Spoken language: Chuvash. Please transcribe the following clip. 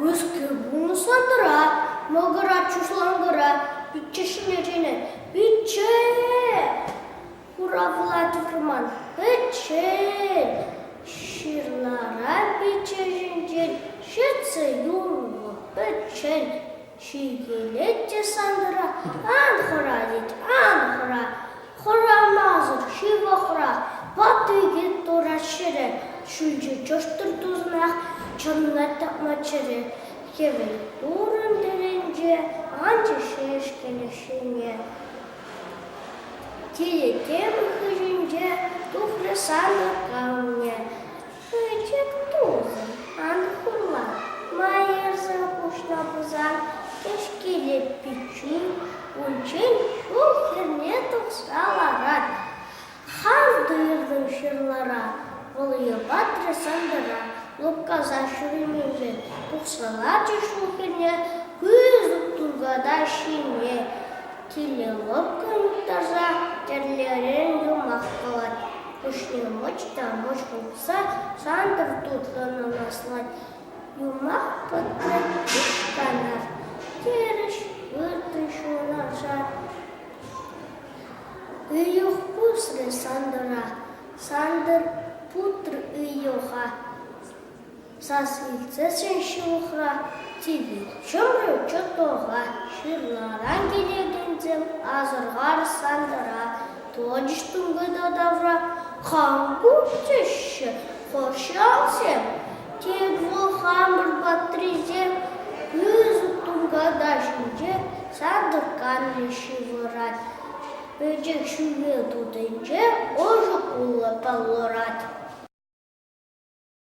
Мӗскер пурнӑҫлантӑра, мӑкӑра, чушланкӑра пичче ҫине чӗнӗ. Пичче! Хуравла тупрӑман. Пӗччен! Ҫырлара пичче ҫинчен ҫӗтсе юрлӑ. Пӗччен! Ҫиnkелет те Сантӑра, ан хӑра, тет, ан хӑра. Хӑрамасӑр ҫывӑ хӑра, патӑкӗ турат ҫӗре. Ҫӳлчӗ чӑштӑр туснах, чӑнла тапма чӗре. Хӗвел турӑн тӗлӗнче, анчӗ ҫеҫкенех ҫине. Тилӗ тем хыҫӗнче тухрӗ сантӑр камне. Пӗчӗк тусӑм, ан хурла, ма ерсе хушнӑ пулсан, кӗҫкеле пиччӳн унччен ҫул хӗрне тухса ларать. Хам туйӑртӑм ҫырлара, вӑл йӑпатрӗ сантӑра, лӑпкаса ҫӳренинче тухса ларчӗ ҫул хӗрне, пысӑк тулката ҫине Киле лӑпкӑн таса тӗрлӗрен юмах кӑларать. Пуҫне мӑч та мӑч хупса сантӑр тутлӑ нанаслать. Юмах пӑтнӑ канат, терӗҫ выртнӑ ҫунаша. Ыйӑх пусрӗ Сантӑра, Сантӑр путрӗ ыйӑха. Сас илтсессӗн ҫывӑхра типӗ чурӗ чутока ҫырларан килекенсем асӑрхар-сантӑра тӑчӗҫ тунката тавра. Кам ку теҫҫӗ пӑрҫасем? Тек вӑл хамӑр патрисем пысӑк тунката ҫинче сартӑкканни ҫывӑрать. Пӗчӗк ҫӳле тутинче ӑшӑ кулӑ палӑрать.